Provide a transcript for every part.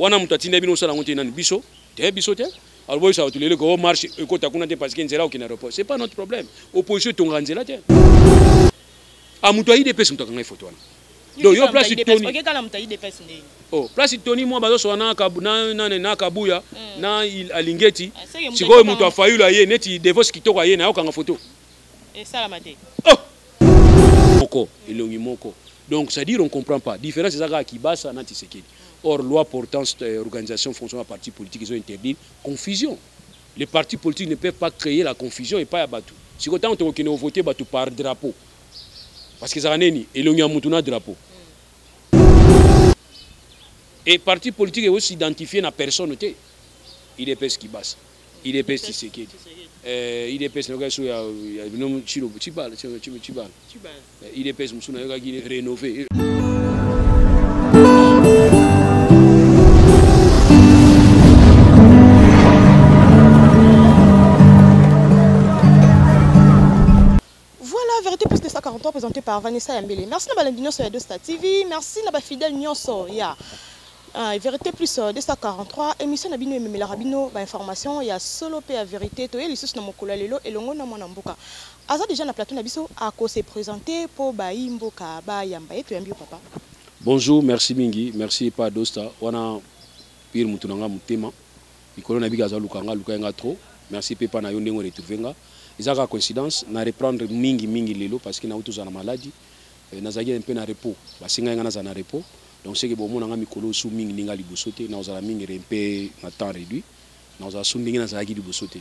wana moto atinda bino osala yango te nani biso te biso te alors boyisa bato lelo ko oh, marche ekota kuna te parce que nzela okende aéroport c'est pas notre problème opposition etongaka nzela te a ah, moto aide epesi moto akanga efoto wana donc yo place toni oke kala mutayi de pes nde oh place toni mwa bazo soa na kabu na na na kabuya mm. na alingeti ah, sikoyo mutu afayulu aye neti devos kitoko aye na yokanga photo esala mate oh moko elongi moko donc c'est dire on comprend pas différence eza kaka kibasa na tisekedi or loi portant euh, organisation fonctionnement ya parti politique ezo interdire confusion les partis politiques ne peuvent pas créer la confusion epai ya bato sikoyo ntango tokokende kovote bato par drapeau parce que ezalaka nini elongi ya mutu na drapeau et parti politique ezo s'identifier na personne te idps kibasa idps tisekedi euh, idps nayokaki so ya bino chilo chibala chibala idps mosusu nayokaki rénové Voilà, vérité plus que 143 présenté par Vanessa Yambele. Merci na balandi nyonso ya Dosta TV, merci na ba fidèles nyonso ya yeah. Uh, vérité plus 243 euh, émission na bino ememelaka bino ba information ya solo pe ya vérité toye lisusu na mokolo ya lelo elongo na mwana mboka aza déjà na plateau na biso ako se présenter po bayi mboka bayamba ye toyambi yo papa bonjour merci mingi merci epa dosta wana pire motu na ngai motema Likolo na bika aza luka nga luka nga trop. Merci pepa na yo ndenge retrouver nga. Eza ka coïncidence na reprendre mingi mingi lelo parce que na uto zana maladi. Euh, na zaki un peu na repos. Ba singa nga na zana repos. Donc c'est que bon mona nga mikolo sou mingi ninga liboso te na ozala mingi un peu na temps réduit. Na ozala sou ndenge na zaki liboso te.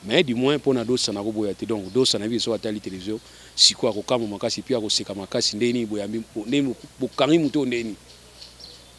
Mais du moins pona dosa na ko boya te. Donc dosa na biso atali télévision siko akokamwa makasi puis akoseka makasi ndeni boyambi ndeni bokangi muto ndeni.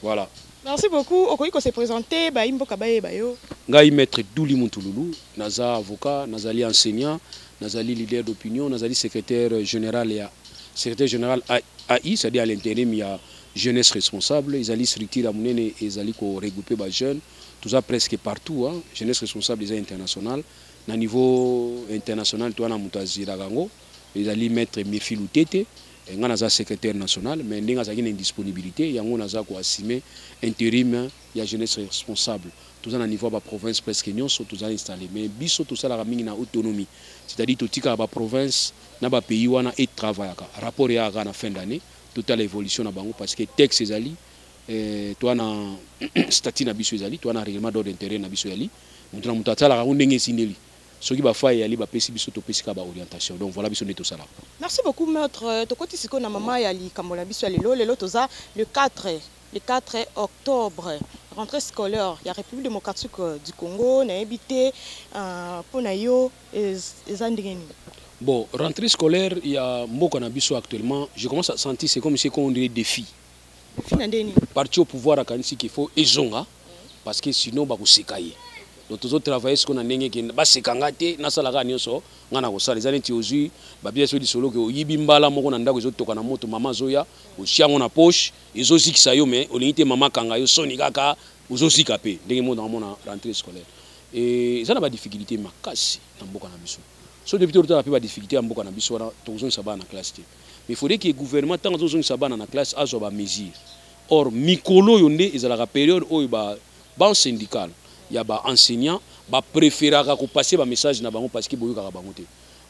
Voilà. Merci beaucoup. Okoki ko se présenter ba imboka bayeba yo. Ngai maître Douli Muntululu, naza avocat, nazali enseignant, nazali leader d'opinion, nazali secrétaire général ya secrétaire général AI, c'est-à-dire à, l'intérim ya jeunesse responsable, ezali structure ya munene ezali ko regrouper ba jeunes, toza presque partout, hein. jeunesse responsable eza international, na niveau international toana mutu aziraka yango, ezali maître Murphy Lutete. Nga naza secretaire national mais ndenge azalaki na indisponibilite yango naza ko assume interim ya jeunesse responsable toza na niveau ya ba province presque nionso toza installe mais biso tosalaka mingi na autonomie c'est à dire totikaka ba province na ba pays wana e travaillaka rapport eyaka kaka na fin d'annee totala evolution na bango parce que texte ezali eh, toa na statut na biso ezali toa na règlement d'ordre intérieur na biso ezali moto na moto asalaka yango ndenge esindeli Soki ba fois eyali bapesi biso topesi kaka ba orientation donc voila biso nde tosalaka. Merci beaucoup maitre tokoti sikoyo na maman ya likambo na biso ya lelo lelo toza le 4 le 4 octobre rentree scolaire ya Republique democratique du Congo nayebi te pona yo eza ndenge nini? Bon rentree scolaire ya mboka na biso actuellement je commence à sentir c'est comme si ekom'ondire defi. Fina ndeni. Parti au pouvoir akanisi qu'il faut ezonga parce que sinon ba bakoseka ye. Donc tozo travailler siko na ndenge ke baseka nga te nasala kaka nyonso nga na kosala eza neti ozui babia so lisolo ke oyibi mbala moko na ndako ezotoka na moto mama azoya otia yango na poche ezozikisa yo mais olingi te mama akanga yo soni kaka ozozika mpe ndenge moko nakomona rentrée scolaire eza na badifficulté makasi na mboka na biso so depuis totala mpe badifficulté ya mboka na biso wana tokozongisa bana na classe te mais il faudrait que gouvernement ntango azozongisa bana na classe azwa ba mesure or mikolo oyo nde ezalaka periode oyo ba banc syndical ya ba enseignant bapreferaka kopase bamessage na bango parceke boyokaka bango te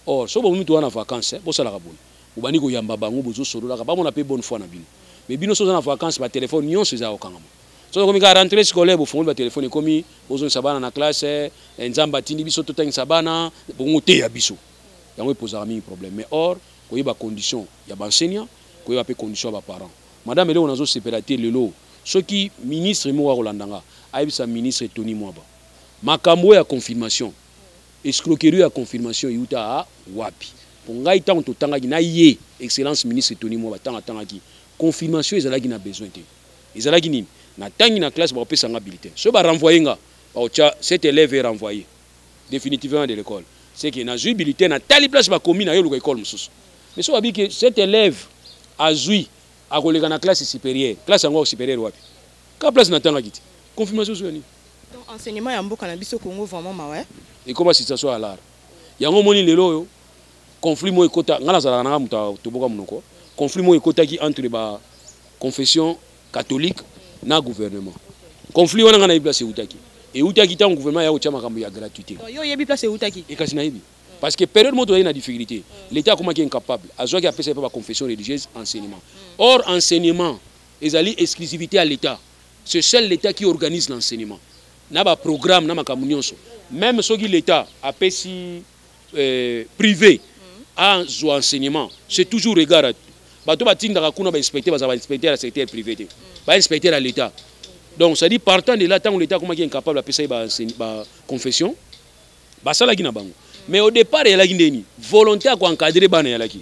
or soki bomomi toza na vacance bosalaka boye bobandi koyamba bango bozosololaka bamona mpe bonne foi na bino mais bino soki oza na vacance batelefone nyonso eza ya kokangama soki ekomi kaka rentre scolaire bofongoli batelefone ekomi bozongisa bana na classe eh, nzambe atindi biso totangisa bana bongo te ya biso yango epozaka mingi problème mais or koyeba condition ya ba enseignants, koyeba pe condition ya ba parents. Madame eloko nazo sepela te lelo soki ministre moko akolanda nga ayebisa ministre Tony Mwaba makambo oyo ya confirmation escroquerie oyo ya confirmation ewuta a wapi? Po ngai tango totangaki na ye excellence ministre Tony Mwaba tango atangaki confirmation ezalaki na besoin te ezalaki nini? Natangi na classe bakopesa nga bulletin soki ba renvoyer nga bakotia cet elève est renvoyer. definitivement de l'école c'est que nazui bulletin na tali place bakomi na yo luka école mosusu mais soki abi que cet élève azui akoleka na classe supérieure classe yango supérieure wapi ka place natangaki te confirmation ozoya nini donc enseignement ya mboka na biso congo vraiment mawa ekoma situation ya lar yango omoni lelo oyo conflit moko ekota ngai nazalaka nanga moto toboka monoko conflit moko ekotaki entre ba confession catholique na gouvernement conflit wana nga nayebi place eutaki eutaki ntango gouvernement ya kotya makambo ya gratuité yo oyebi place eutaki e kasi nayebi parce que période moko tozali na difficulté l'état akomaki incapable azwaki apesa epa baconfession religieuse enseignement or enseignement ezali exclusivité ya l'état ce seul l'état qui organise l'enseignement na baprogramme na makambo nyonso meme soki l'état apesi euh, privé azwa enseignement c'est toujours regard bato batindaka kuna bainspecteur bazala bainspecteur ya secteur privé te bainspecteur ya l'état donc cestadi partant de là ntango l'état akomaki incapable apesa ye baconfession basalaki na bango mais au départ eyalaki ndeni volonté ya koencadre bana eyalaki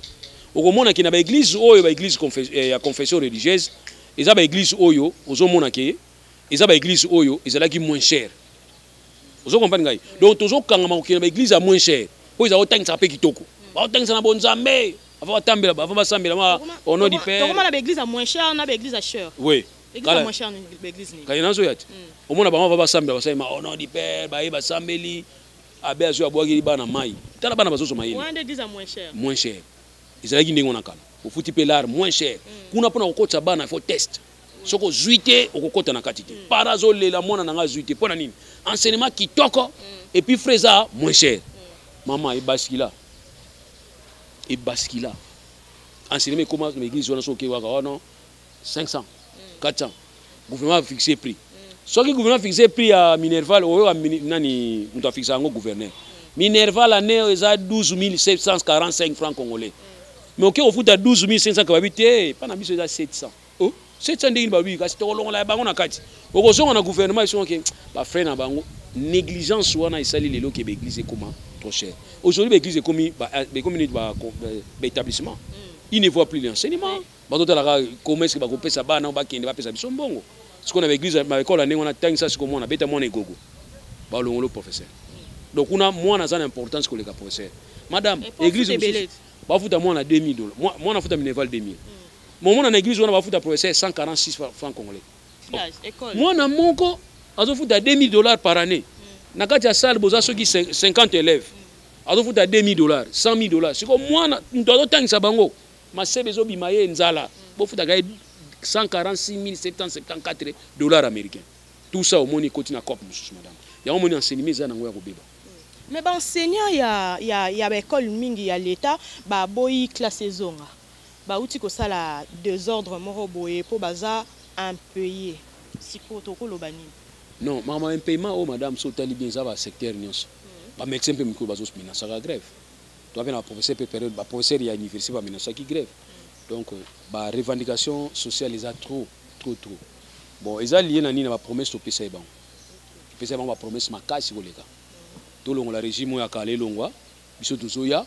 okomona ke na baeglise oyo baeglise eh, ya confession religieuse eza baeglise oyo ozomona ke eza baeglise oyo ezalaki moins cher ozo comprendre ngai donc tozo kangama kokende ba église ya moins cher po ezala otangisa pe kitoko baotangisa na bonzambe avant batambela avant basambela ma au nom du père tokoma na ba église ya moins cher na ba église ya cher oui kala moins cher ba église ni kala nazo yati hmm. omona bango va basambela basali ma au nom du père baye basambeli abe azo abwaki bana mai tala bana bazoso mayele moins église ya moins cher moins cher ezalaki ndenge wana kala ofuti pe lar moins cher hmm. kuna pona kokotisa bana faut test soki ozwi te okokota na kati te para azolela mwana na ngai azwi te mpo na nini enseignement kitoko mm. epuis frais eza moins cher mm. mama ebaskila ebaskila enseignement ekoma na église wana soki okewaka oh wana 500 400 gouvernement afixe prix mm. soki gouvernement afixe prix ya minerval oyoka nani moto afixe yango gouverneur minerval année oyo eza 12 745 francs congolais mais oke kofuta 12 500 kababi te mpa na biso eza 700 oh 700 ndenge ba oui kasi tokolongola ya bango na kati okozonga na gouvernement esoka ke ba frère na bango négligence wana esali lelo ke ba église ekoma trop cher aujourd'hui ba église ekomi ba ekomi neti ba ba établissement mm. il ne voit plus l'enseignement bazotalaka comment est-ce que bakopesa bana oyo bakende bapesa biso mbongo sikoyo na ba église ba ekole ya ndenge wana tangisa sikoyo mwana beta mwana egogo balongolo professeur donc kuna mwana aza na importance koleka professeur madame église bafuta mwana 2000 dollars mwana afuta minerval 2000 mm. Momo na eglise wana bafuta professeur 146 francs congolais. Oh. Mwana moko azofuta 2000 dollars par année. Hmm. Na kati ya salle boza soki 50 élèves. Hmm. Azofuta 2000 dollars, 100 000 dollars. Siko mwana moto azotangisa bango. Masebe ezobima ye nzala. Hmm. Bofutaka ye 146 774 dollars américains. Tout ça omoni ekoti na coop mosusu madame. Yango omoni enseignement eza nango ya kobeba. Mais ba enseignants ya ya ya ba école mingi ya l'État ba boyi classe ezonga. bawuti kosala desordre moko boye po baza impayes sikoyo toko loba nini? Non makambo ya impayement oyo madame soki otali bien eza ba secteurs nionso ba medecins mpe mikoyo bazo menasaka grève toza mpe na ba professeurs mpe periode ba professeurs ya universite ba menasaki grève donc ba revendications sociales eza trop trop trop bon eza lie na nini na ba promesses topesaki bango topesaki bango ba promesses makasi koleka tolongola regime oyo ya kala elongwa biso tozoya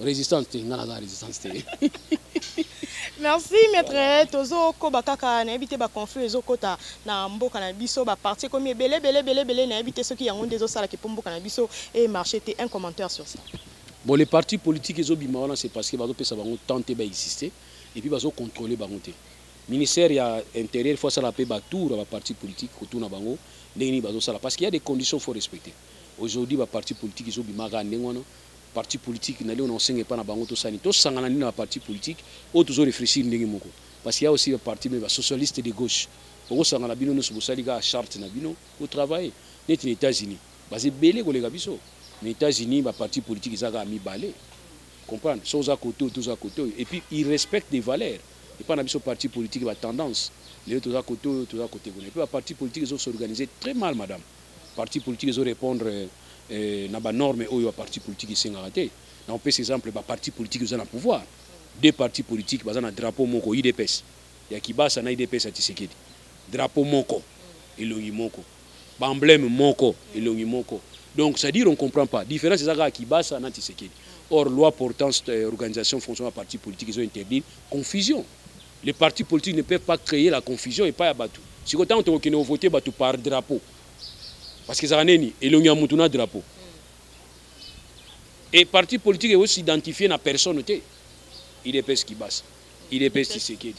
resistance te nga naza resistance te merci maître tozokoba kaka nayebi te baconflit ezokota na mboka na biso baparti ekomi ebele ebele ebele ebele nayebi te soki yango nde ezosalaki mpo mboka na biso emarche te un commentaire sur ça bon les partis politiques ezobima wana c'est parce que bazopesa bango temps te baexiste et puis bazocontrôle bango te ministère ya intérieur faut asala mpe batour ya baparti politique kotuna bango ndenge nini bazosala parce qu'il y a des conditions faut respecter aujourd'hui baparti politique ezobimaka ndenge wana parti politique na leo na osenga epa na bango tosala nini tosangana nini na baparti politique oyo tozo réfléchir ndenge moko parce ya aussi baparti me basocialiste de gauche bokosangana bino nyonso bosali kaka charte na bino botravaille neti na états-unis baza ebele koleka biso na états-unis baparti politique eza kaka mibale comprendre so oza kote oyo toza kote oyo epuis il respecte des valeurs epai na biso parti politique batendance lelo toza kote oyo toza kote kuna epuis baparti politique ezo s'organiser très mal madame parti politique ezo répondre euh, na ba normes oyo ba parti politique esengaka te na opesa exemple ba parti politique oza na pouvoir deux partis politiques baza na drapeau moko idps ya kibasa na idps ya tisekedi drapeau moko elongi moko baemblème moko elongi moko donc c'est à dire on comprend pas différence eza kaka kibasa na tisekedi or loi portant euh, organisation fonction ya parti politique ezo interdire confusion les partis politiques ne peuvent pas créer la confusion epai ya bato sikoyo ntango tokokende kovote bato par drapeau parce que ezalaka nini elongi ya mutu na drapeau et parti politique ezo s'identifier na personne te idps kibasa idps tshisekedi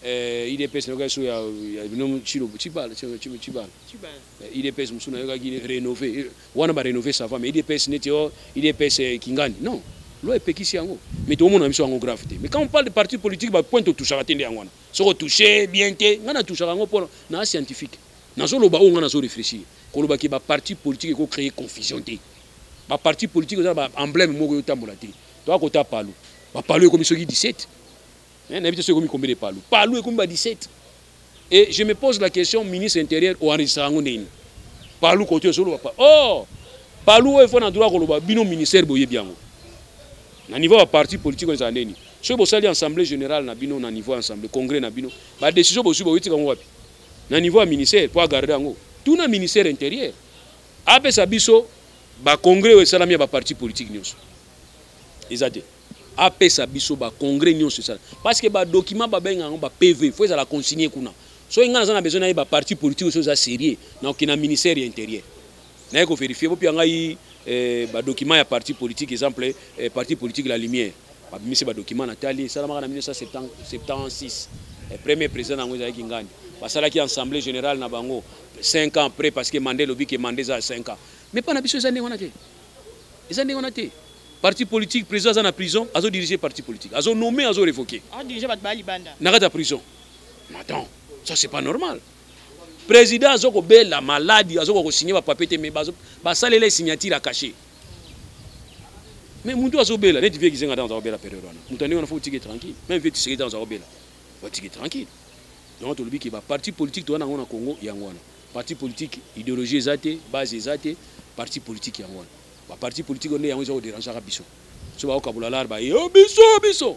euh, idps nayokaki so ya bino chilo chibala chibala idps mosusu nayokaki rénové wana barénové sava mais idps neti o oh, idps euh, kingani non loi epekisi yango mais tokomona biso yango grave te mais quand on parle de parti politique bapointe otouchaka te nde yango wana soki otouche bien te ngai natouchaka yango mpo na scientifique Nazo loba oyo nga nazo reflechir. Koloba ke ba parti politique eko cree confusion te. Ba parti politique eza na ba embleme moko ezo tambola te. Toya kota palu. Ba palu ekomi soki 17. Eh, nayebi te soki ekomi combien de palu. Palu ekomi ba 17. Et je me pose la question, ministre intérieur o enregistra yango ndenge nini? Palu kote ozo loba pa. Oh! Palu oyo efona droit koloba bino ministère boyebi yango. Na niveau ba parti politique oyo ezala ndenge nini? Soki bosali assemblee generale na bino na niveau ya assemblee, congrès na bino, ba decision bozwi boyotika yango wapi? na niveau ya ministère mpo agarde yango tuna ministère intérieur apesa biso bacongrès oyo esalami ya baparti politique nyonso eza te apesa biso bacongrès nyonso esala parce que badokima babenga yango bapv fo ezala consigne kuna soki ngai naza na besoin nayeba parti politique oyo eza sérieux nakokende na ministère ya intérieur naye ko verifier bopia ngai eh, ba document ya parti politique exemple eh, parti politique la lumière babimisi ba document na tali esalamaka na 1976 eh, premier président nango ezalaki ngani basalaki assemblée générale na bango 5 ans après parce que mandat elobi ke mandat eza 5 ans mais pas na biso eza ndenge wana te eza ndenge wana te parti politique président aza na prison azo diriger parti politique azo nommé azo révoquer na kati ya prison attends ça c'est pas normal president azo kobela maladi azo kokosigne bapapie te me basalela ye signature ya cache me motu azobela neti vie kizenga ntango aza kobela periode wana moto andenge wana fo otike tranquille meme vie tiseke ntango aza kobela batike tranquille yango tolobi ke baparti politique toza nango na congo yango wana parti politique idéologie eza te base eza te parti politique yango wana baparti politique nde yango eza koderangeaka biso so baokabola lar baye biso biso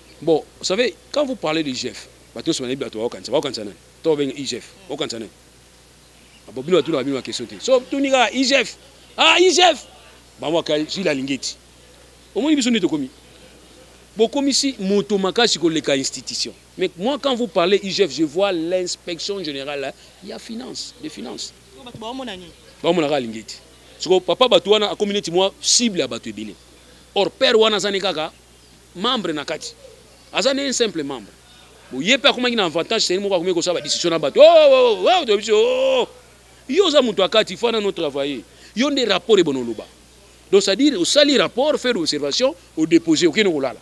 Bon, vous savez, quand vous parlez de Jeff, bato nyonso banayebi bato baokanisa baokanisa nani to babenga igf baokanisa nani abo bino batunaka bino bakestion te so tuni kaka igf ah igf bango aka zwi lalingi eti omoni biso nde tokomi bokomisi moto makasi koleka institution mais moi quand vous parlez igf je vois l'inspection générale ya finance de finance baomonaka alingi eti soko papa bato wana akomi neti mwa cible ya bato ebele or père wana aza ne kaka membre na kati aza nde simple membre boye mpe akomaki na avantage seni moko akomi kosala badiscussion na bato oh, oh, oh, toyebi biso oh, yo oza moto ya kati fo nano travaille yo nde rapport ebona oloba donc c'est-à-dire osali rapport faire observation odepose okende kolala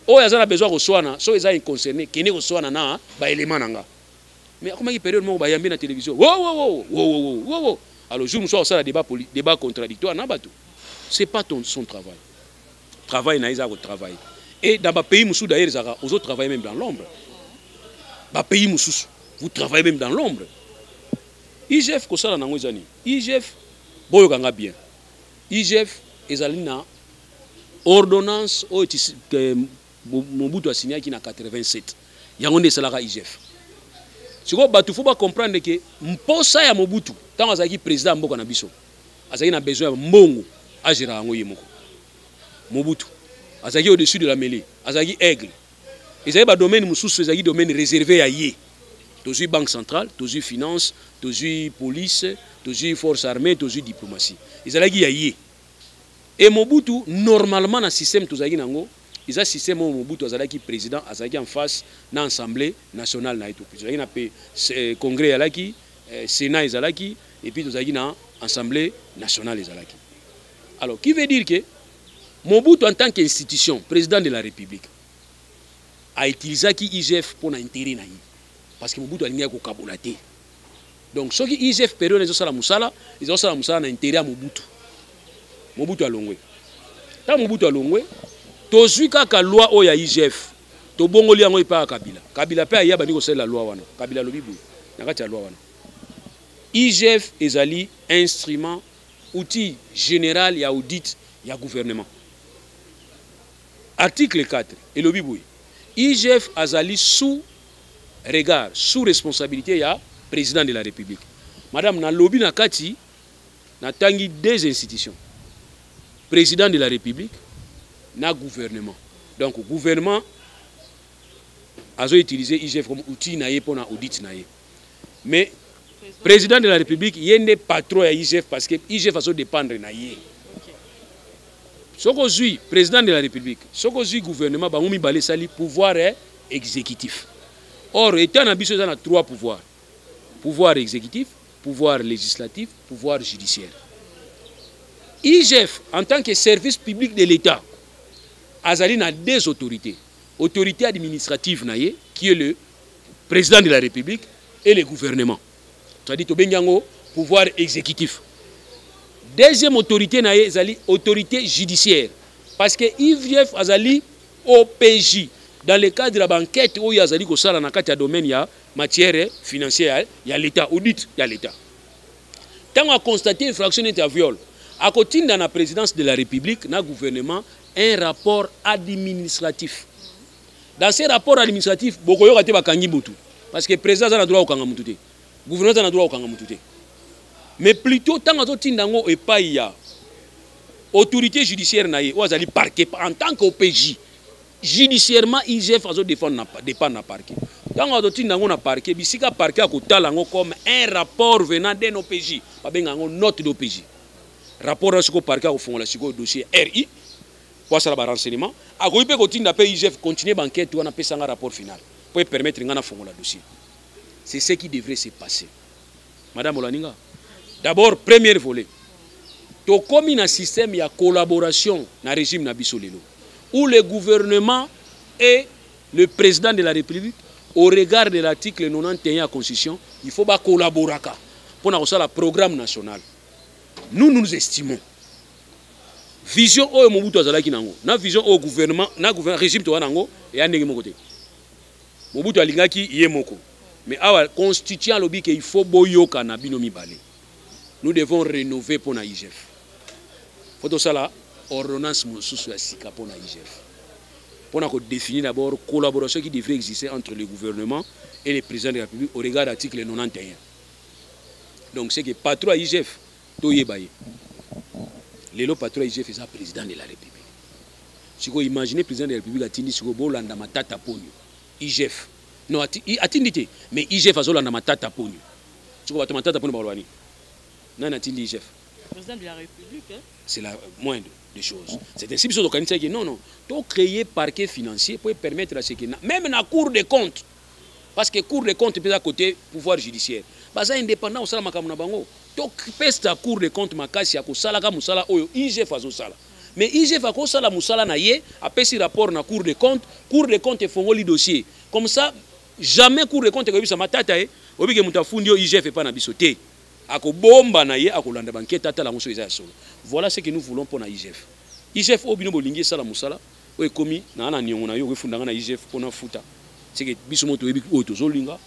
oyo aza na besoin ya koswana soki eza inconcerné kende koswana na baelema na nga mais akomaki période moko bayambi na télévision wowowowowowowo alors jour mosusu akosala débat contradictoire na bato c'est pas ton, son travail travail na ye eza ya kotravaille et dans bapays mosusu d'ailleurs ezalaka ozo travaille même dans l'ombre bapays mosusu vous travaillez même dans l'ombre igf kosala nango eza nini igf boyoka nga bien igf ezali na ordonnance oyo euh, mobutu asignaki na 87 yango nde esalaka igf sikoyo bato fo bacomprendre ke mposa ya mobutu ntango azalaki président ya mboka na biso azalaki na besoin ya mbongo agera yango ye moko mobutu azalaki au-dessus de la mêlée azalaki aigle ezali badomaine mosusu ezalaki domaine réservé ya ye tozwi banque centrale tozwi finance tozwi police tozwi force armée tozwi diplomatie ezalaki ya ye e mobutu normalement na système tozalaki na yango eza système oyo mobutu azalaki président azalaki en face na assemblée nationale na ye tozalaki na pe eh, congrès eyalaki eh, Sénat ezalaki et puis tozalaki na Assemblée nationale ezalaki. Alors qui veut dire que Mobutu en tant qu'institution, président de la République a utilisé qui IGF pour l'intérêt na parce que Mobutu alingaki kokabola te. Donc soki IGF période ezosala musala, ezosala musala na intérêt ya Mobutu. Mobutu alongwe. Tant Mobutu alongwe, tozui kaka loi oyo ya IGF tobongoli yango epai ya kabila kabila mpe aya bandi kosalela loi wana kabila alobi boye na kati ya loi wana igf ezali instrument outil général ya audit ya gouvernement article 4 elobi boye igf azali sous regard sous responsabilité ya président de la république madame nalobi na kati na tangi deux institutions président de la république na gouvernement donc gouvernement azo utiliser IGF comme outil na ye pona audit na ye mais président de la république ye nde patron ya IGF parce que IGF azo dépendre na ye soki ozwi président de la république soki ozwi gouvernement bango mibale esali pouvoir exécutif or etat na biso eza na trois pouvoir pouvoir exécutif pouvoir legislatif, pouvoir judiciaire. IGF, en tant que service public de l'État, azali na deux autorités. Autorité administrative na ye, qui est le président de la République, et le gouvernement. C'est-à-dire, tobengi yango pouvoir exécutif. Deuxième autorité na ye ezali autorité judiciaire. Parce que IGF azali OPJ, dans le cadre ya bankete oyo azali kosala na kati ya domaine ya matière financière ya l'Etat, audit ya l'Etat. Tango a constater infraction neti ya viol, akotinda na présidence de la République na gouvernement un rapport administratif. Dans ce rapport administratif, bokoyoka te bakangi mutu parce que président aza na droit kokanga mutu te. Gouvernement aza na droit kokanga mutu te. Mais plutôt tango azotinda yango epai ya autorité judiciaire na ye oyo azali parquet en tant que OPJ Judiciairement IGF azo defendre na dépendre na parquet. Tango azo tinda yango na parquet, bisika parquet akotala yango comme un rapport venant d'un OPJ, ba benga yango note d'OPJ. Rapport na siko parquet akofongola sikoyo dossier RI po asala ba renseignements, akoki pe kotinda pe IGF continuer ba enquête wana pesa nga rapport final po e permettre nga na fongola dossier. C'est ce qui devrait se passer. madame olandi nga d'abord première volet tokomi na système ya collaboration na régime na biso lelo où le gouvernement et le président de la république au regard de l'article 91 ya constitution il faut bacollaboraka mpo na kosala programme national nous nous estimons vision oyo mobutu azalaki na yango na vision oyo gouvernement na gouvernement régime toza na yango eya ndenge moko te Mobutu alingaki ye moko. Mais awa constituant alobi ke il faut boyokana bino mibale. Nous devons renouver mpo na IGF. Faut tosala ordonnance mosusu ya sika mpo na IGF. Mpo na ko définir d'abord collaboration qui devrait exister entre le gouvernement et le président de la République au regard d'article 91. Donc c'est que patron ya IGF toyeba ye lelo patron ya igf eza président de la république sikoyo imagine président de la république atindi sikoyo bolanda matata ponyo igf non atindi te mais igf azolanda matata ponyo sikoyo bato matata ponyo bakoloba nini nani atindi igf président de la république hein? c'est la moindre des choses c'est ainsi biso tokanisaki non non tocréer parquet financier mpo epermettre à ce que même na cour de compte parce que cour de compte mpe eza cote pouvoir judiciaire baza indépendant kosala makambo na bango topesa cour de compte makasi ya kosalaka mosala oyo igf azosala mais igf akosala mosala na ye apesi rapport na cour de compte cour de compte efongoli dossier comme ça jamais cour de compte ekoyebisa matata ye obike moto afundi yo igf epai na biso te akobomba na ye akolanda bankete atala yango soki eza ya solo voilà ce que nous voulons mpo na igf igf oyo bino bolingi esala mosala oyo ekomi naa na niongo na yo okefunda nga na igf mpo nafuta seke biso moko toyebi oyo tozolinga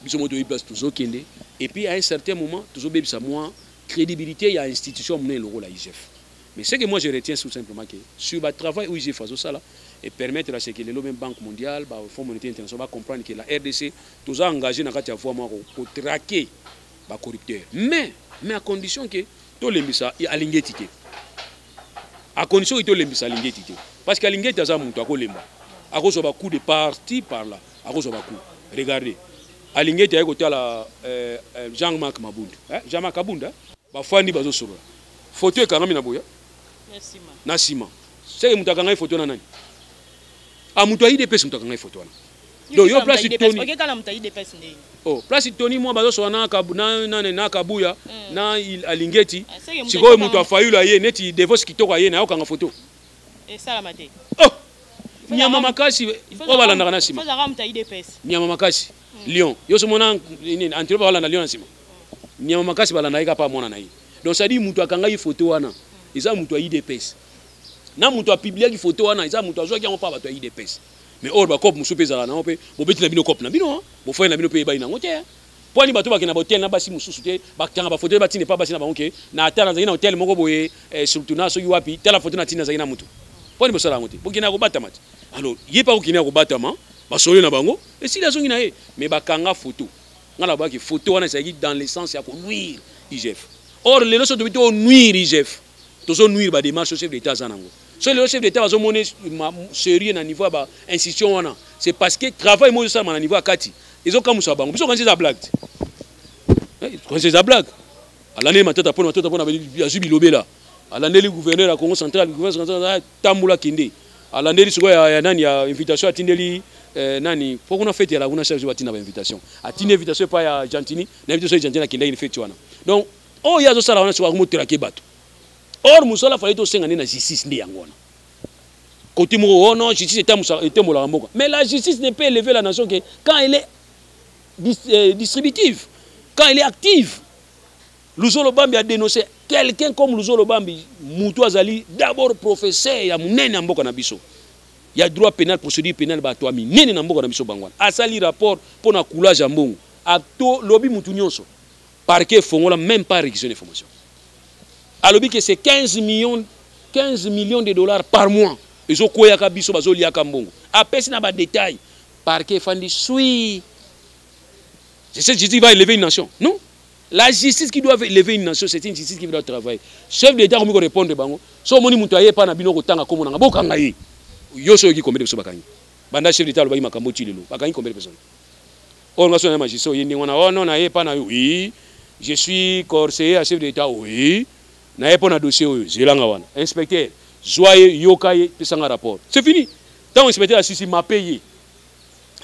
biso moko toyebi place tozokende et puis à un certain moment tozobebisa mwa crédibilité ya institution monene lokola igf mais ce que moi je retiens tout simplement que sur ba travail oyo igf azosala et permettre à ce que lelo même banque mondiale ba fonds monétaire international ba comprendre que la rdc toza engagé na kati ya voie moko ko traquer ba corrupteurs mais mais à condition que tolembisa alingeti te à condition que tolembisa alingeti te parce que alingeti aza moto akolemba akozwa bacoup de parti par là akozwa bacoup regardez alingeti aye kotala euh, euh, jean marc mabundu eh? jean marc abunda bafandi bazosolola foto ekangami na boya na nsima seke moto akangai foto na nani a ah, moto ya idps moto akangai foto wana donc yo place toni oke kala mutayi de pes nde oh place toni mwa bazo sola na kabu na na na kabuya mm. na alingeti ah, sikoyo mutu afayula ye neti devos kitoko aye na yokanga photo esala mate oh nyama makasi o balandaka na sima ozaka mutayi de pes nyama makasi mm. lion yo so mona nini antilope balanda lion na sima mm. nyama makasi balanda ye kapa mwana na ye donc ça dit mutu akanga ye photo wana eza mutu ya idps na mutu apubliaki photo wana eza mutu azwaki yango mpa bato ya idps mais or bacope mosusu mpe ezalaka nango mpe bobeti na bino cope na bino bofoye na bino mpe eyebani nango te mpo ani bato bakenda bahotel na basi mosusu te bakanga bafoto te batina epa basi na bango ke na ata nazalaki na hotel moko boye eh, surtout na soki wapi tala foto na tina nazalaki na motu mpo ani bosala yango te bokendaka kobatama te alors ye mpe akokendaka kobatama basolo na bango esili azongi na ye mais bakanga foto ngai nabaki foto wana ezalaki dans le sens ya konuire igf or lelo so tobi to onuire igf tozo nuire ba démarche chef d'état aza nango soki lelo chef d'état bazo mone sérieux na niveau ya ba institution wana c'est parce que travail mozo salama na niveau ya kati ezo kamusa bango biso kanisa eza blague te kanisa eza blague alandeli matata pona matata pona azwi bilobela alandeli gouverneur ya congo central gouverneur tambola kende alandeli sikoyo ya, ya nani ya invitation atindeli eh, nani po kuna fete ya laguna chaque jour atinda ba invitation atindi invitation epai ya gentini na invitation ya gentini akendaki ni fete wana donc oyo ye azosala wana sikoyo akomotelake bato or mosala fali tosenga nde na justice nde yango wana koti moko oh non justice etembolaka mboka mais la justice ne peut élever la nation que quand elle est euh, distributive quand elle est active luzolo bambi a dénoncé quelqu'un comme luzolo bambi mutu azali d'abord professeur ya monene ya mboka na biso ya droit pénal procédure pénale bato ya minene na mboka na biso bango wana asali rapport mpo na coulage ya mbongo atolobi mutu nyonso Parquet efongola meme pas requisition d'information. Alobi que c'est 15 millions 15 millions de dollars par mois. Ezo koyaka biso bazo liaka mbongo. Apesi na ba détails. Parquet efandi sui. C'est cette justice qui va élever une nation. Non La justice qui doit élever une nation, c'est une justice qui doit travailler. Chef d'État comme ko répondre bango. So moni mutu aye pa na bino ko tanga komo na boka ngai. Yo so yoki combien de biso bakangi. Banda chef d'État alobaki makambo ti lelo. Bakangi combien de personnes Or nga so na magistrat oye ndenge wana oh non na ye epa na yo oui je suis conseiller ya chef de l'etat oui na ye mpo na dossier oyo zela nga wana inspecteur zwa ye yoka ye pesa nga rapport c'est fini ntango inspecteur asisi mape ye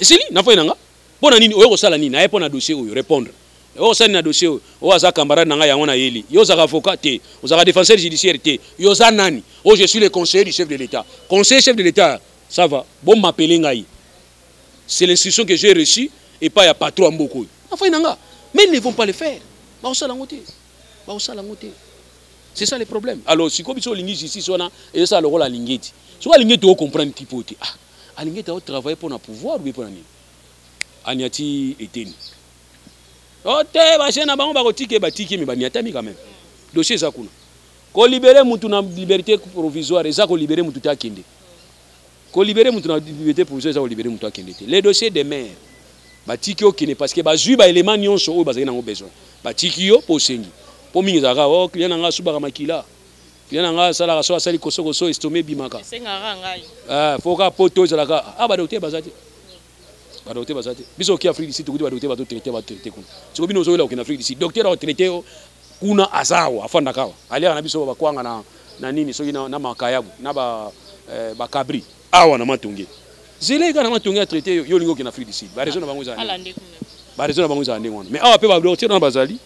esili na fai na nga mpo na nini oye kosala nini na ye mpo na dossier oyo répondre oyo kosala nini na dossier oyo oyo aza camarade na nga yango na yeli yo ozaka avocat te ozaka défenseur judiciaire te yo oza nani oyo oh, je suis le conseiller du chef de l'etat conseiller chef de l'etat ça va bomapele ngai C'est l'instruction que j'ai reçue et pas ya patron ya mboka oyo. Na fai na nga. Mais ils ne vont pas le faire. Ba osala ngo te. Ba osala ngo te. C'est ça le problème. Alors siko biso lingi justice wana et ça le rôle à lingeti. Siko lingeti o comprendre ki pote. Ah, a lingeti o travailler pour na pouvoir ou pour na nini? Aniati eteni. Oh te ba jeune bango ba ko tike ba tike mais ba niatami quand même. Dossier za kuna. Ko libérer mutu na liberté provisoire, eza ko libérer mutu ta kende. Ko libere mutu na libete provisoire eza ko libere mutu akende te. Le dossier de maire batiki okende parce que bazui ba element nyonso oyo bazali nango besoin. Batiki yo po osengi. Po mingi ezalaka oh client nanga asubaka makila. Client nanga asalaka so asali koso koso estome ebimaka. Esengaka ngai. Ah, faut ka poto ezalaka ah ba docteur baza te. ba docteur baza te biso oki afrique du sud tokuti ba docteur bato traite ba traite kuna siko bino ozoyela okende afrique du sud docteur ao traite yo kuna aza awa afandaka awa aliaka na biso bakwanga na, na nini soki na, na makayabu na ba, eh, bakabri awa na matonge zela eka na matonge atraite yo yo olingi okende afrique du sud barezo na bango ezala barezo na bango ezala ndenge wana mais awa mpe badocteur wana bazali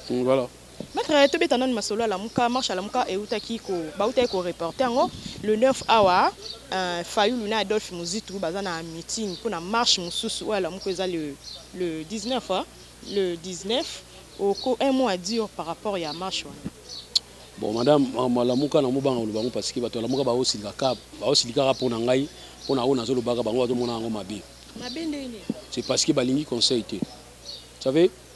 mm, voilà Maitre tobeta nanu masolo ya lamuka marche ya lamuka eutaki ko bautaki ko reporter yango le 9 awa euh, Fayulu na Adolphe Muzitu baza na meeting mpo na marche mosusu oyo ya lamuka eza le, le 19 hein? le 19 oko un mot à dire par rapport ya marche wana bon madame malamuka na mobanga oloba yango parce que bato ya lamuka baosilika ka baosilikaka mpo na ngai mpo na oyo nazolobaka bango bazomona yango mabe mabe ndenge c'est parce que balingi conseil te savez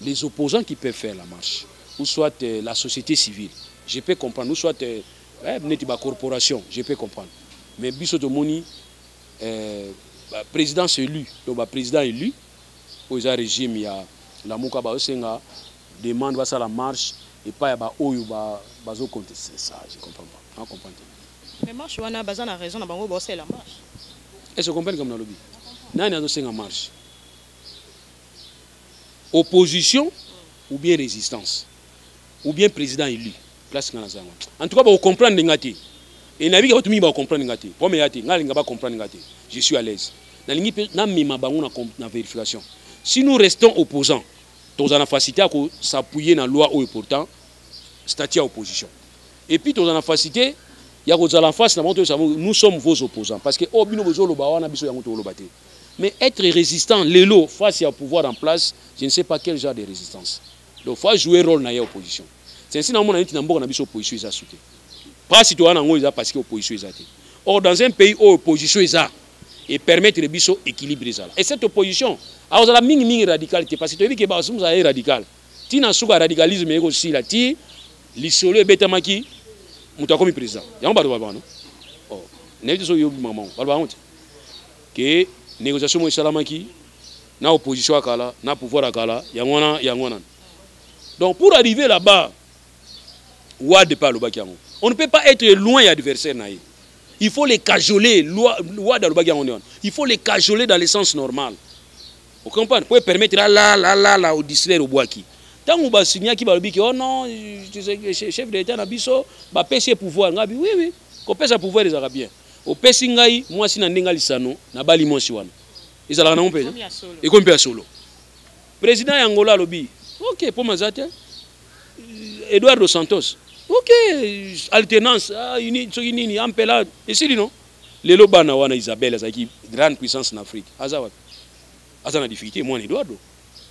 les opposants qui peuvent faire la marche ou soit euh, la société civile je peux comprendre ou soit euh, eh, neti ba corporation je peux comprendre mais biso tomoni euh, ba présidence élu to ba président élu oyo eza régime ya lamuka baosenga demande basala marche epai ya baoyo bazoconteste ba ça je comprends pas comprendre mais marche wana baza na raison na bango baosalela marche est ce comprendre comme nalobi nani azosenga marche opposition ou bien résistance ou bien président élu place nga naza yango en tout cas bakocomprendre nga te e nayebi bato mingi bakocomprendre nga te problème eya te nga nalinga bacomprendre nga te je suis à l'aise nalingi mpe namema bango na, na vérification si nous restons opposants tozala na facilité ya kosappuye na loi oyo pourtant statut ya opposition et puis tozala na facilité ya kozala en face na bango toyebisa bango nous sommes vos opposants parce que oyo oh, bino bozoloba wana biso yango tokoloba te Mais être résistant, lelo, face ya pouvoir en place, je ne sais pas quel genre de résistance. Donc, faut jouer rôle na ya opposition. C'est ainsi na mona neti na mboka na biso opposition eza souke. Pasi to wana ngo eza parce que opposition eza te. Or, dans un pays où opposition eza, et permettre les biso équilibre ezala. Et cette opposition, alors la ming ming radicale te, parce que tu as vu que Basum ça est radical. Ti na souka radicalisme eko sila ti lisolo ebetamaki mutu akomi président. Yango bato babano. Oh, na yebi so yobi maman, bato bango te. ke négociation moko esalamaki na opposition ya kala na pouvoir ya kala yango wana yango wana donc pour arriver là-bas wade mpe alobaki yango on ne peut pas être loin ya adversaire na ye il faut les cajoler wade alobaki yango nde wana il faut les cajoler dans le sens normal ocomprendre mpo epermettre alalalala odistraire obwaki ntango basignaki balobi ke oh non chef de l'état na biso bapesi ye pouvoir ngabi oui oui kopesa pouvoir ezalaka bien opesi ngai mwasi na ndenge ya lisano nabali mwasi wana ezalaka nango mpenza ekomi mpe ya solo président ya angola alobi ok mpo maza te eduardo santos ok alternance ah, soki nini ampela esili no lelo bana wana isabelle azalaki grande puissance na afrique aza wapi aza na difficulté mwana eduardo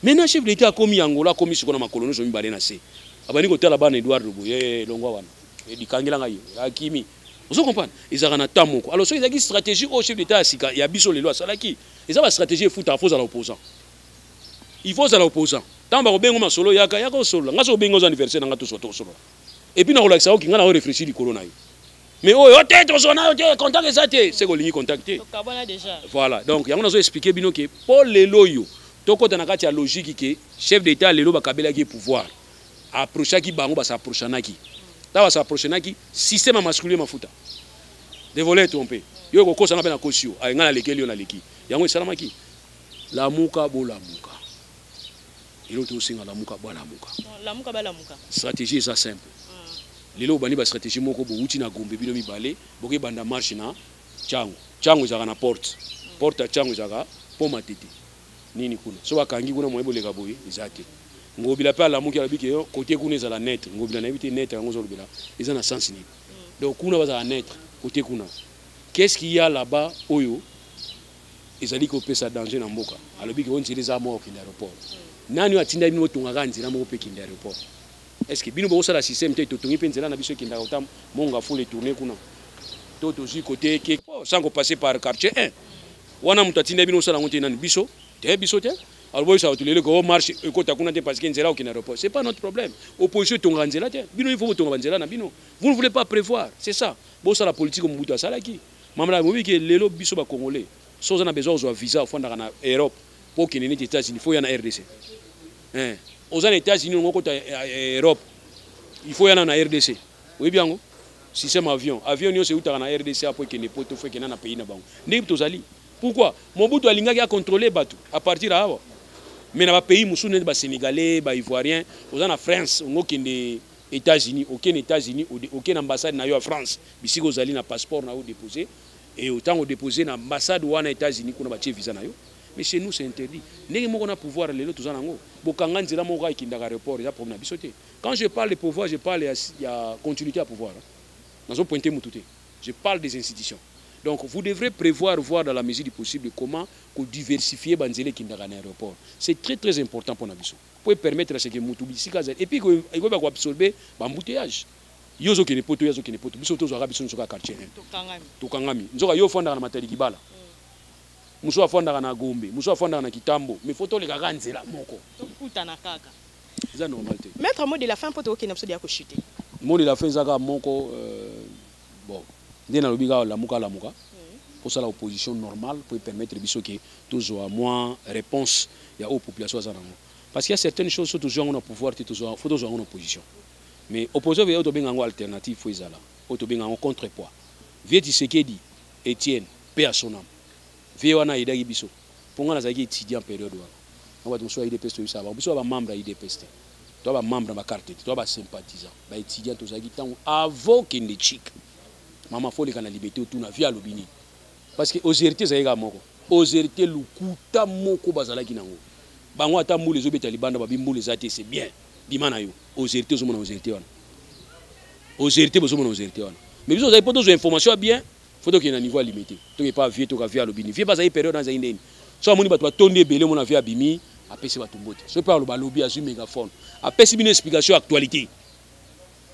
Maintenant chef de l'etat akomi Angola akomi siko na makolo nyonso mibale na se. Abandi kotala bana Eduardo boye eh, eh, longwa wana. Eh, likangela ngai yo. Akimi. Ozo comprendre? Ezalaka na temps moko. Alors soki ezalaki stratégie au chef d'etat ya sika ya biso lelo asalaki, eza ba stratégie efutaka faut ozala opposant. Il faut ozala opposant. Tant ba kobengo masolo yaka yaka osolola. Ngai soki obengi oza anniversaire na ngai toswa tosolola. Et puis na kolakisa yo kinga na yo réfléchir likolo na yo. mais oyo oh, te tozwa nayo te contact eza te seke olingi contact te voilà donc yango nazo expliquer bino ke mpo lelo oyo tokota na kati ya logique ke chef d'état lelo bakabelaki ye pouvoir approchaki bango basaprochanaki ntango basaprochanaki système ya masculie mafuta de volet trompe yo ekokosana mpe nakosi yo ayenga nalekeli yo naleki yango esalamaki lamuka bolamuka Lelo tosenga lamuka balamuka. Lamuka balamuka. Strategie eza simple. Lelo obandi ba strategie moko bowuti na Gombe bino mibale boke banda marche na Tshangu. Tshangu ezalaka na porte. Porte ya Tshangu ezalaka pont Matete. Nini kuna? Soki bakangi kuna moyen boleka boye eza te. Ngobila pe alamuki alobi ke cote kuna ezala neutre. Ngobila nayebi te neutre yango ozolobela eza na sens nini? Donc kuna bazala neutre cote kuna. Qu'est ce qu'il ya là-bas oyo ezali kopesa danger na mboka alobi ke o nzela eza moko kende aéroport nani oyo atindaki bino botonga kaka nzela moko mpe kende aéroport est ce que bino bokosala système te totongi mpe nzela na biso ekendaka kota monga fula etourne kuna to tozwi kote ke oh, sans kopasser par quartier 1 wana moto atindaki bino osala yango te nani biso te biso te alors boyebisa bato lelo ko marche ekota kuna te parce que nzela okende aéroport c'est pas notre problème opposition etongaka nzela te bino il faut botonga banzela na bino vous ne voulez pas prévoir c'est ça bosala politique mobutu asalaki Maman Nana boyebi ke lelo biso ba congolais soki oza na besoin ya kozwa visa ofandaka na Europe po okende neti Etats Unis faut oya na rdc eh, oza na Etats Unis olingi okota eh, eh, Europe il faut oya na na rdc oyebi yango système avion avion nyonso eutaka na rdc apo ekende poto fo ekenda na pays na bango ndenge tozali pourquoi mobutu alingaki acontrole bato à partir ya awa mais na bapays mosusu neti basénégalais baivoirien oza na france ongo okende Etats Unis oke na Etats Unis oke na ambassade na yo ya France bisika ozali na passeport na yo depose e otango depose na ambassade wana Etats Unis kuna batie visa na yo mais chez nous c'est interdit ndenge moko na pouvoir lelo toza nango bokanga nzela moko kaka ekindaka aéroport eza problème na biso te quand je parle de pouvoir je parle ya, ya continuité ya pouvoir hein? nazo pointe mutu te je parle des institutions donc vous devrez prévoir voir dans la mesure du possible comment ko diversifier banzela ekindaka na aéroport c'est très très important pour na biso po e permettre à ce que mutu bisika azali et puis ekoyeba ko absorber ba embouteillages yo ozo kende poto ye azo kende poto biso tozwaka biso nzoka quartier hein tokangami nzoka yo ofandaka na matadi kibala mosusu mm. afandaka na gombe mosusu afandaka na kitambo mais fo toleka kaka nzela moko tokutana kaka eza normal te maître mot de la fin mpo tokokende biso deya kochute mot de la fin eza kaka moko euh, Bon, nde nalobi kaka lamuka lamuka posala opposition normale pour permettre biso que tozwa mwa réponse ya oyo population aza nango parce qu'il y a certaines choses so tozwa yango na pouvoir te tozwa faut tozwa yango na opposition mais opposition veut tobenga yango alternative faut ezala oyo tobenga yango contrepoids vieux Tshisekedi Etienne paix à son âme vieux wana ayedaki biso mpo ngai nazalaki étudiant periode wana na bato mosusu ya idps toyebisaka bango biso ya bamembre ya idps te toya bamembre na bacarte te toya basympathisant baétudiant tozalaki ntango avant kende chik mama fo oleka na libete otuna vi alobi nini parce que auserité ezalaki kaka moko auserité lokuta moko bazalaki nango bango ata mbula ezobeta libanda babi mbula eza te c'est bien bima na yo auserité ozomona auserité wana auserité bozomona auserité wana mais biso ozali mpo tozwa information ya bien faut tokende na niveau ya limete toke epa vie toka vie alobi ni vie mpe azali periode wana ezali ndeni so amoni bato batondi ebele omona vie abimi apesi bato mbote so mpe aloba alobi azwi megaphone apesi bino explication ya actualité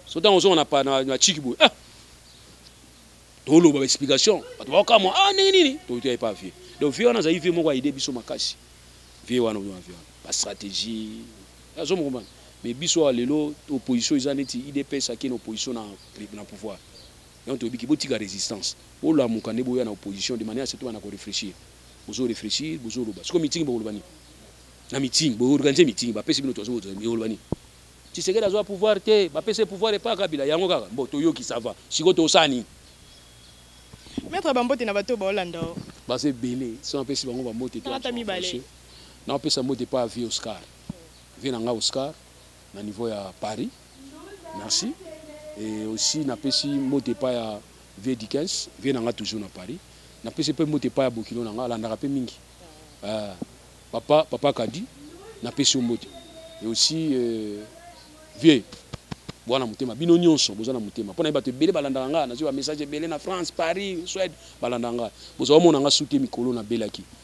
so ntango ozonga na bachiki boye ah toloba baexplication bato baokamwa ah ndenge nini totoya epa vie donc vie wana azali vie moko aide biso makasi vie wana oyo vie wana bastratégie azo mokombana mais biso awa lelo opposition eza neti idps akei na opposition na pouvoir Yango toyebi ke botika resistance bolamuka nde boya na opposition de manière surtout bana ko reflechir bozo reflechir bozo loba siko meeting bokoloba nini na meeting bo organiser meeting ba pesi bino tozo bozo bokoloba nini Tshisekedi azwa pouvoir te ba pesi pouvoir epa Kabila yango kaka mbo toyoki ça va siko tosala nini Maître Bambote na bato baolanda o. Baza ebele so napesi bango bambote te napesa mbote epa vie Oscar vie na nga Oscar na niveau ya Paris merci et aussi napesi mbote epai ya vieux Dickens vieux na nga toujours na Paris napesi mpe mbote epai ya bokilo na nga alandaka mpe mingi euh, papa papa Kadi napesi yo mbote et aussi euh, vieux boa na motema bino nyonso boza na motema mpo na ye bato ebele balandaka ngai nazwi bamessage ebele na france paris swede balandaka ngai bozwa omona ngai sute mikolo nabelaki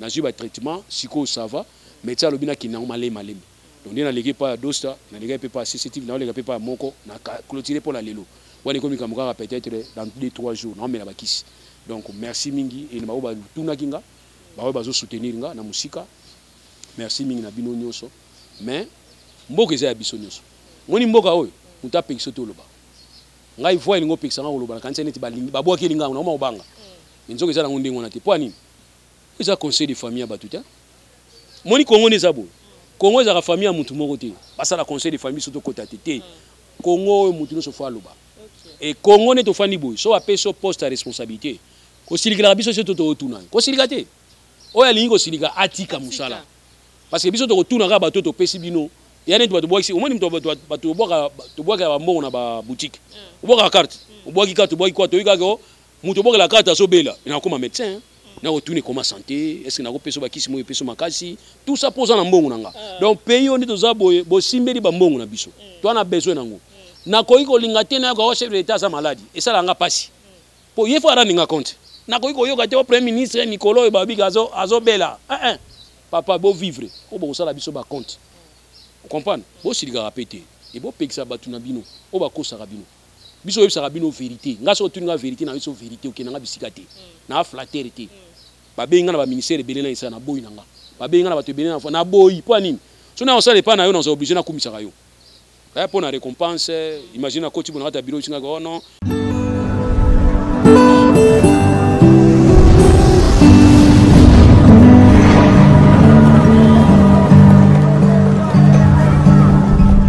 nazwi ba traitement sikoyo ça va médecin alobi nakende yango malembe malembe donc nde naleki epai ya dosta nalekaki mpe epai ya cctv naoleka mpe epai ya moko na clotire mpo na lelo wana ekomi kambo kaka peut-être dans 2 3 jours naomela bakisi donc merci mingi ene baoyo batunaki nga baoyo bazosoutenir nga na mosika merci mingi na bino nyonso mais mboka eza ya biso nyonso moni mboka oyo moto apekisi yo te oloba ngai voi elingi opekisa ngai koloba nakanisa neti babwaki elinga yango naoma kobanga mm. nzoka eza nango ndenge wana te mpo ya nini eza conseil de famille ya bato te moni congo nde eza boye congo ezalaka famille ya motu moko te basala conseil de famille so tokota te te congo oyo motu nyonso fo aloba e congo nde tofandi boye so bapesi yo poste ya responsabilité kosilikelaka biso so toto otuna ye kosilika te oyo alingi kosilika atika mosala parce que biso tokotuna kaka bato topesi bino ya neti bato bwakisi omoni moto bato tobwakela bambongo na baboutique obwakaka carte obwaki carte obwaki kwa toyikaka Moto obokela karte azo bela na koma medecin hein. na ko tuni koma santé est ce que na ko peso ba kisi moyo peso makasi tout ça poza na mbongo na nga ah. donc pays oyo nde toza boye bosimbeli ba mbongo na biso mm. toi na besoin na ngo na koki ko linga te na ko chef de l'état aza malade et ça la nga pasi mm. po yefo arani nga compte na koki ko yoka te au premier ministre mikolo oyo babika azo azo bela hein hein papa bo vivre ko boko sala biso ba compte mm. comprendre bo silikaka pete et bo pekisa batu na bino o ba kosaka bino biso oyebisaka bino verité ngai soki otuni nga verité na biso verité okende nga bisika te na flatter te babengi nga na baministère ebele na esala na boyi na nga babengi nga na bato ebele na na boyi mpo ya nini so na osala epai na yo naza oblige nakumisaka yo eh, mpo na récompense imagine akoti bona kati ya biro bisingaka oh non